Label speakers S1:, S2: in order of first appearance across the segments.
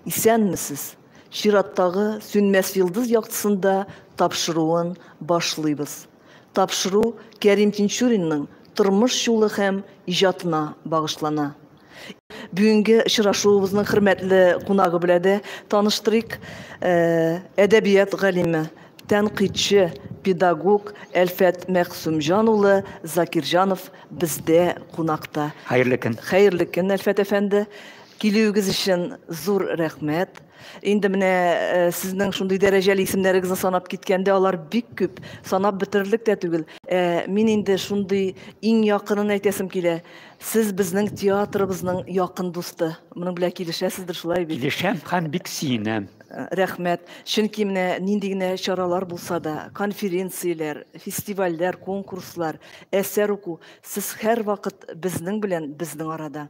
S1: Исәнмесез! Чираттагы Сүнмәс йолдыз яктысында тапшыруын башлыйбыз. Тапшыру Кәрим Тинчуринның тормыш юлы һәм иҗатына багышлана. Бүгенге очрашуыбызның хөрмәтле кунагы белә дә таныштырыйк. Әдәбият галиме, тәнкыйтьче, педагог Әлфәт Мәгъсүмҗан улы Закирҗанов бездә кунакта. Хәерле көн! Хәерле
S2: көн, Әлфәт
S1: әфәнде! Килүегез өчен зур рәхмәт. Инде менә э, сезнең шундый дәрәҗәле исемнәрегезне санап киткәндә алар бик күп, санап бетерерлек тә түгел. Ә, мин инде шундый иң якынын әйтәсем килә. Сез безнең театрыбызның якын дусты. Моның белән килешәсездер шулай бит? Килешәм һәм бик
S2: сөенәм. Э, рәхмәт.
S1: Чөнки менә нинди генә чаралар булса да, конференцияләр, фестивальләр, конкурслар, әсәр уку, сез һәрвакыт безнең белән, безнең арада.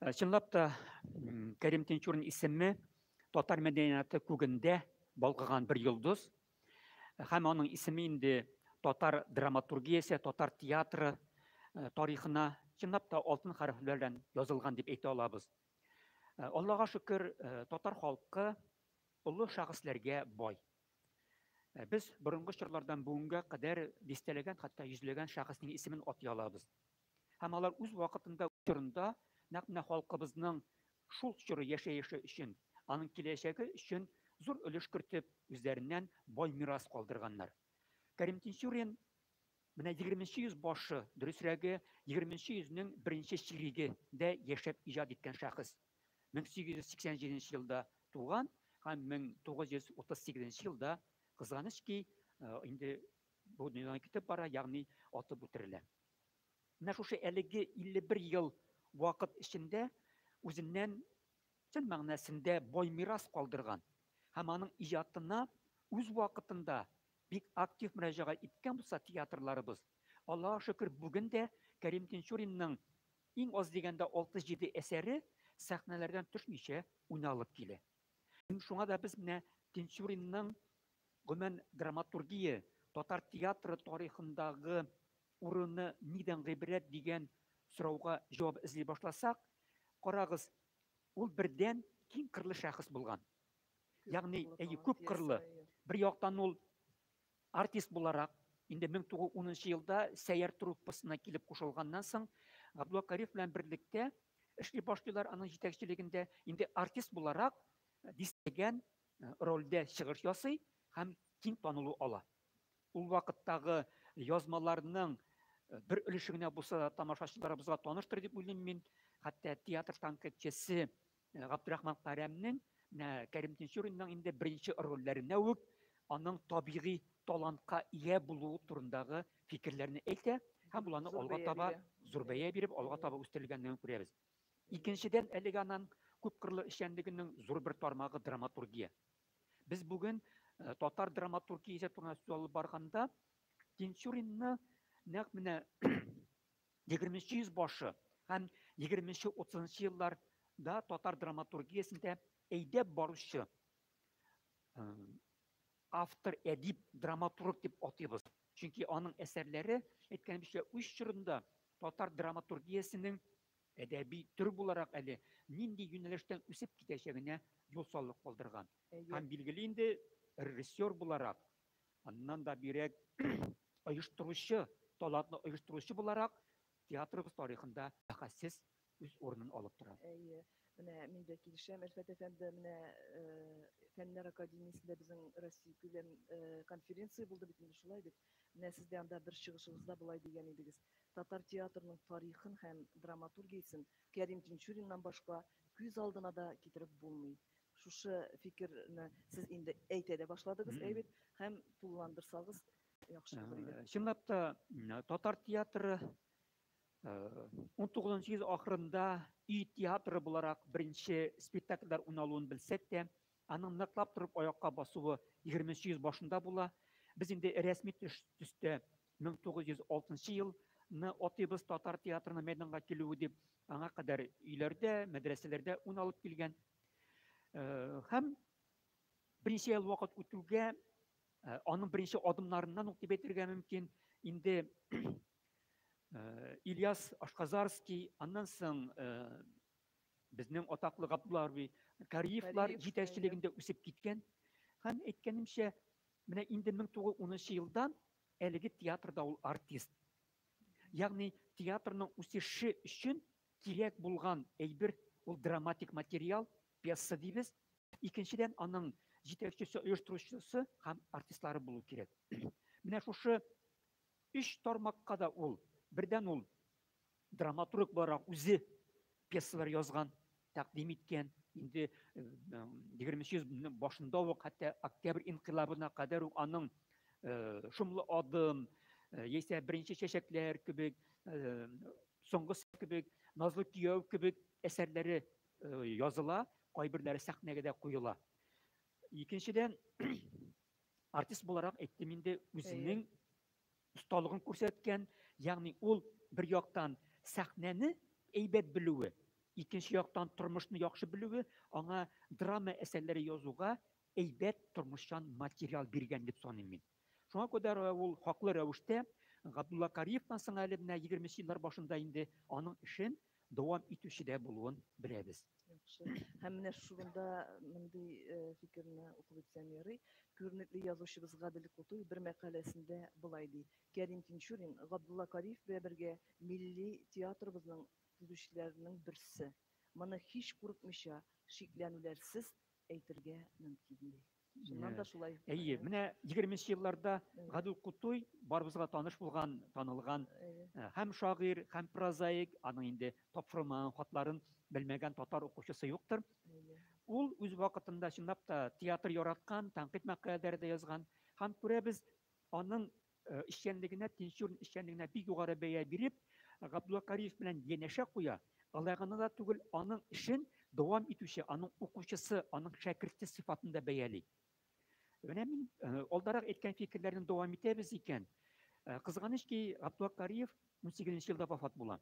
S2: Э, чынлап та Кәрим Тинчурин исеме татар мәдәнияты күгендә балкыган бер йолдыз э, һәм аның исеме инде татар драматургиясе, татар театры э, тарихына чынлап та алтын хәрефләр белән язылган дип әйтә алабыз. Аллага шөкер, татар халкы олы шәхесләргә бай. Без борынгы чорлардан бүгенгә кадәр дистәләгән, хәтта йөзләгән шәхеснең исемен атый алабыз. Һәм алар үз вакытында, үз чорында нәкъ менә халкыбызның шул чоры яшәеше өчен, аның киләчәге өчен зур өлеш кертеп, үзләреннән бай мирас калдырганнар. Кәрим Тинчурин менә егерменче йөз башы, дөресрәге, егерменче йөзнең беренче чирегендә яшәп иҗат иткән шәхес. 1887 елда туган һәм 1938 елда, кызганыч ки, инде бу дөньядан китеп бара, ягъни атып үтерелә. Менә шушы әлеге 51 ел вакыт эчендә үзеннән чын мәгънәсендә бай мирас калдырган һәм аның иҗатына үз вакытында бик актив мөрәҗәгать иткән булса театрларыбыз, Аллага шөкер, бүген дә Кәрим Тинчуринның иң аз дигәндә 67 әсәре сәхнәләрдән төшмичә уйналып килә. Шуңа да без менә Тинчуринның гомумән драматургия, татар театры тарихындагы урыны нидән гыйбрәт дигән сорауга җавап эзли башласак, карагыз, ул бердән киң кырлы шәхес булган. Ягъни, әйе, күп кырлы. Бер яктан ул Артист буларак, инде 1910 елда Сәйяр труппасына килеп кушылганнан соң, Габдулла Кариев белән берлектә эшли башлыйлар аның җитәкчелегендә. Инде артист буларак дистәгән рольдә чыгыш ясый һәм киң танылу ала. Ул вакыттагы язмаларның бер өлеше генә булса да тамашачыларыбызга таныштыр дип уйлыйм мин. Хәтта Театр танкетчесе Э, Габдрахман Карәмнең менә Кәрим Тинчуринның инде беренче рольләренә үк аның табигый талантка ия булуы турындагы фикерләрне әйтә һәм боларны алга таба зур бәя биреп алга таба үстерелгәнлеген күрәбез. Икенчедән, әлеге аның күпкырлы эшчәнлегенең зур бер тармагы драматургия. Без бүген э, татар драматургиясе турында сүз алып барганда Тинчуринны нәкъ менә Егерменче йөз башы һәм егерменче-утызынчы еллар да татар драматургиясендә әйдәп баручы э, автор әдип драматург дип атыйбыз чөнки аның әсәрләре әйткәнебезчә үз чорында татар драматургиясенең әдәби төр буларак әле нинди юнәлештән үсеп китәчәгенә юл салып калдырган һәм билгеле инде режиссер буларак Аннан да бирәк оештыручы, талантны оештыручы буларак театрыбыз тарихында бәхәссез үз урынын
S1: алып тора.
S2: Әйе.
S1: Менә мин
S2: дә
S1: килешәм, Әлфәт
S2: әфәнде,
S1: менә Фәннәр академиясендә безнең Россия күләм конференция булды бит инде шулай бит. Менә сез дә анда бер чыгышыгызда болай дигән идегез. Татар театрының тарихын һәм драматургиясен Кәрим Тинчуриннан башка күз алдына да китереп булмый. Шушы фикерне сез инде әйтә дә башладыгыз, әйбит, һәм тулыландырсагыз яхшы булыр иде. Чынлап та
S2: татар театры 19 йөз ахырында и театры буларак беренче спектакльләр уйналуын белсәк тә, аның ныклап торып аякка басуы 20 йөз башында була. Без инде рәсми төстә 1906 елны атыйбыз татар театрының мәйданга килүе дип, аңа кадәр өйләрдә, мәдрәсәләрдә уйналып килгән Һәм беренче ел вакыт үтүгә аның беренче адымнарыннан ук дип әйтергә мөмкин, инде Ильяс Ашказарский, аннан соң безнең атаклы Габдулларби Кариевлар җитәкчелегендә үсеп киткән. Һәм әйткәнемчә, менә инде 1910 елдан әлеге театрда ул артист. Ягъни театрның үсеше өчен Кирәк булган әйбер ул драматик материал, пьеса дибез. Икенчедән, аның җитәкчесе, оештыручысы һәм артистлары булу кирәк. Менә шушы өч тармакка да ул, бердән ул драматург буларак үзе пьесалар язган, тәкъдим иткән, инде 20 йөз башында ук, хәтта октябрь инкыйлабына кадәр үк аның шомлы адым, яисә беренче чәчәкләр кебек Соңгы сәт кебек, Назлы кияү кебек әсәрләре языла, кайберләре сәхнәгә дә куела. Икенчедән, артист буларак әйттем инде, үзенең осталыгын күрсәткән, ягъни ул бер яктан сәхнәне әйбәт белүе, икенче яктан тормышны яхшы белүе аңа драма әсәрләре язуга әйбәт тормышчан материал биргән дип саныйм мин. Шуңа күдә ул хаклы рәвештә Габдулла Кариевтан соң әле менә егерме нче еллар башында инде аның эшен дәвам итүче дә булуын беләбез. Яхшы.
S1: Һәм менә шугында мондый фикерне укып үтсәм ярый. Күренекле язучыбыз Гадел Кутуй бер мәкаләсендә болай ди, Кәрим Тинчурин Габдулла Кариев белән бергә милли театрыбызның төзүчеләренең берсе. Моны һич курыкмыйча, шикләнүләрсез әйтергә мөмкин, ди. Чыннан да шулай. Әйе, менә
S2: 20нче елларда Гадел Кутуй барыбызга таныш булган, танылган һәм шагыйрь, һәм прозаик, аның инде тапшырылмаган хатларын белмәгән татар укучысы юктыр. Ул үз вакытында чынлап та театр яраткан, тәнкыйть мәкаләләре дә язган һәм күрәбез, аның Э, эшчәнлегенә, пенсион эшчәнлегенә бик югары бәя биреп, Габдулла Кариев белән янәшә куя. Алай гына да түгел, аның эшен дәвам итүче, аның укучысы, аның шәкерте сыйфатында бәяли. Менә мин э, алдарак әйткән фикерләрне дәвам итәбез икән. Э, кызганыч ки, Габдулла Кариев 18 елда вафат була.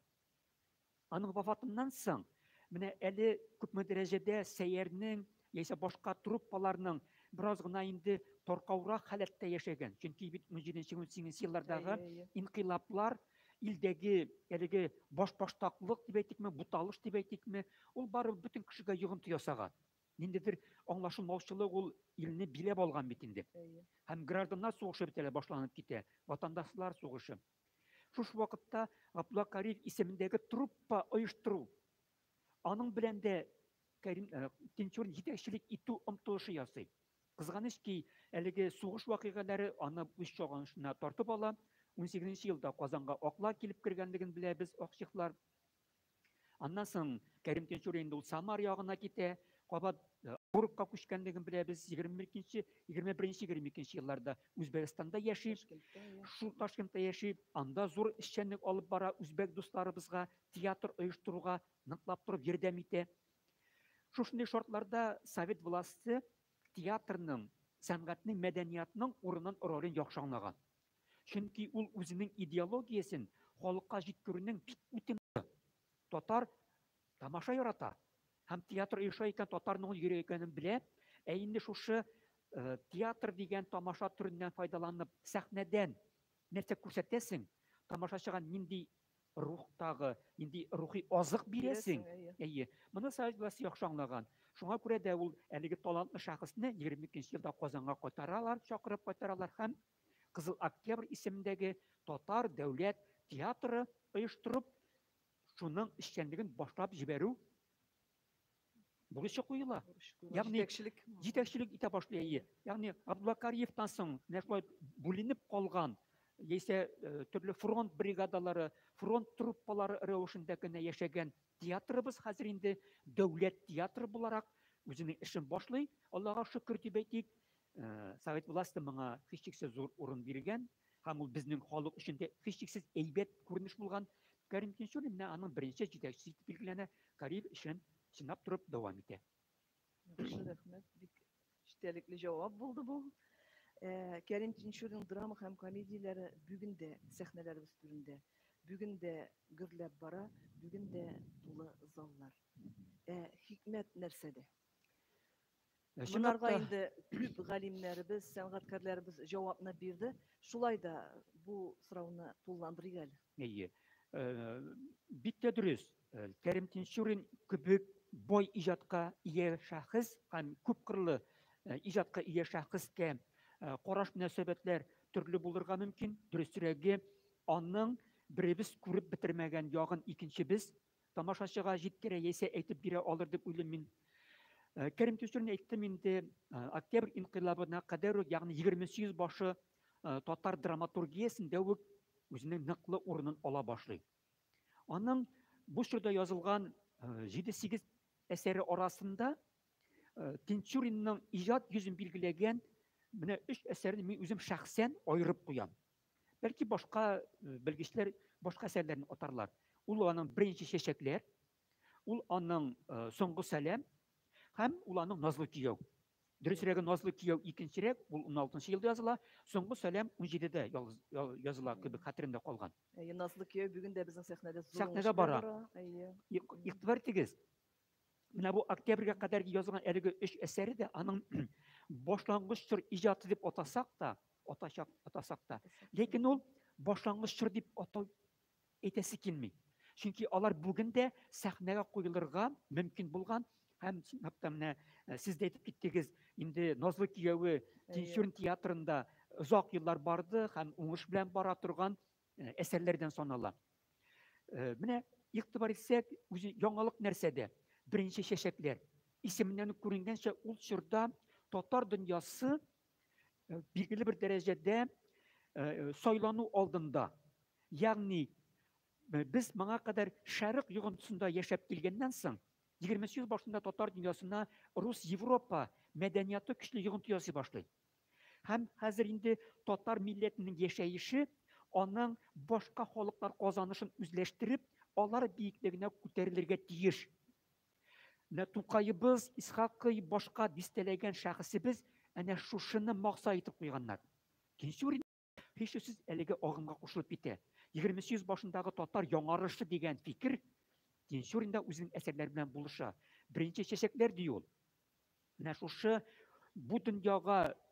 S2: Аның вафатыннан соң, менә әле күпме дәрәҗәдә Сәйәрнең яисә башка труппаларның бераз гына инде таркаурак халәттә яшәгән. Чөнки бит 17-18 еллардагы инкыйлаплар илдәге әлеге башбаштаклык дип әйтикме, буталыш дип әйтикме, ул барыбер бөтен кешегә йогынты ясаган. Ниндидер аңлашылмаучылык ул илне биләп алган бит инде. Һәм гражданнар сугышы бит әле башланып китә, ватандашлар сугышы. Шушы вакытта Габдулла Кариев исемендәге труппа оештыру, аның белән дә Кәрим э, Тинчурин җитәкчелек итү омтылышы ясый. Кызганыч ки, әлеге сугыш вакыйгалары аны үз чагынышына тартып ала. 18 елда Казанга акла килеп кергәнлеген беләбез, акчехлар. Аннан соң Кәрим Тинчурин инде ул Самар ягына китә, кабат э, Орыкка күчкәнлеген беләбез. 22-нче, 21-нче, 22-нче елларда Үзбәкстанда яши. Шул Ташкентта яши. Анда зур эшчәнлек алып бара, үзбәк дусларыбызга театр оештыруга ныклап торып ярдәм итә. Шушындый шартларда совет власте театрның, сәнгатьнең, мәдәниятның урынын ролен яхшы аңлаган. Чөнки ул үзенең идеологиясен халыкка җиткерүнең бик үтем Татар тамаша ярата һәм театр оеша икән, татарның ул йөре икәнен белә. Ә инде шушы э, театр дигән тамаша төреннән файдаланып, сәхнәдән нәрсә күрсәтәсең, тамашачыга нинди рухтагы, нинди рухи азык бирәсең. Әйе. Моны Саид Гласи яхшы аңлаган. Шуңа күрә дә ул әлеге талантлы шәхесне 22 елда Казанга кайтаралар, чакырып кайтаралар һәм Кызыл Октябрь исемендәге татар дәүләт театры оештырып, шуның эшчәнлеген башлап җибәрү бурычы куела. Ягъни җитәкчелек җитәкчелек итә башлый. Ягъни Габдулла Кариевтан соң менә шулай бүленеп калган яисә э, төрле фронт бригадалары, фронт труппалары рәвешендә генә яшәгән театрыбыз хәзер инде дәүләт театры буларак үзенең эшен башлый. Аллага шөкер дип әйтик. Совет власты моңа һичшиксез зур урын биргән һәм ул безнең халык өчен дә һичшиксез әйбәт күренеш булган. Кәрим Тинчурин менә аның беренче җитәкчесе итеп билгеләнә, карьер эшен сынап торып дәвам итә. Яхшы,
S1: рәхмәт. Бик эчтәлекле җавап булды бу. Кәрим Тинчуринның драма һәм комедияләре бүген дә сәхнәләребез түрендә, бүген дә гөрләп бара, бүген дә тулы заллар. Ә хикмәт нәрсәдә? Ә чынлап Монарга та инде күп галимнәребез, сәнгатькәрләребез җавапны бирде. Шулай да бу сорауны тулыландырыйк әле. Әйе. Э,
S2: Бик тә дөрес. Э, Кәрим Тинчурин кебек бай иҗатка ия шәхес һәм күпкырлы э, иҗатка ия шәхескә э, караш мөнәсәбәтләр төрле булырга мөмкин. Дөресрәге, аның беребез күреп бетермәгән ягын икенчебез тамашачыга җиткерә яисә әйтеп бирә алыр дип уйлыйм мин. Э, Кәрим Тюстрин әйттем инде, э, октябрь инкыйлабына кадәр үк, ягъни 28 башы э, татар драматургиясендә үк үзенең ныклы урынын ала башлый. Аның бу чорда язылган 7-8 әсәре арасында Тинчуринның иҗат йөзен билгеләгән менә 3 әсәрне мин үзем шәхсән аерып куям. Бәлки башка э, белгечләр башка әсәрләрне атарлар. Ул аның беренче чәчәкләр, ул аның э, соңгы сәлам һәм ул аның назлы кияү. Дөресрәге назлы кияү икенчерәк, ул 16 елда языла, соңгы сәлам 17-дә языла кебек хәтеремдә калган. Әйе, назлы кияү бүген
S1: дә безнең сәхнәдә зур. Сәхнәдә бара.
S2: Әйе. Игътибар итегез. Менә бу октябрьгә кадәр язылган әлеге өч әсәре дә аның башлангыч чор иҗаты дип атасак та, атачак атасак та, ләкин ул башлангыч чор дип атау әйтәсе килми. Чөнки алар бүген дә сәхнәгә куелырга мөмкин булган һәм чынлап та менә э, сез дә әйтеп киттегез, инде Назлы кияүе Тинчурин театрында озак еллар барды һәм уңыш белән бара торган Э, әсәрләрдән санала. Э, менә игътибар итсәк, үзе яңалык нәрсәдә? Беренче чәчәкләр. Исеменнән үк күренгәнчә, ул чорда татар дөньясы э, билгеле бер дәрәҗәдә сайлану алдында. Ягъни без моңа кадәр шәрык йогынтысында яшәп килгәннән соң, 20 йөз башында татар дөньясына рус Европа мәдәнияты көчле йогынты ясый башлый. Һәм хәзер инде татар милләтенең яшәеше, аның башка халыклар казанышын үзләштереп, алар биеклегенә күтәрелергә тиеш. Менә Тукаебыз, Исхакый, башка дистәләгән шәхесебез әнә шушыны макса итеп куйганнар. Тинчурин һичшиксез әлеге агымга кушылып китә. 20 йөз башындагы татар яңарышы дигән фикер Тинчурин да үзенең әсәрләре белән булыша. Беренче чәчәкләр ди ул. Менә шушы бу дөньяга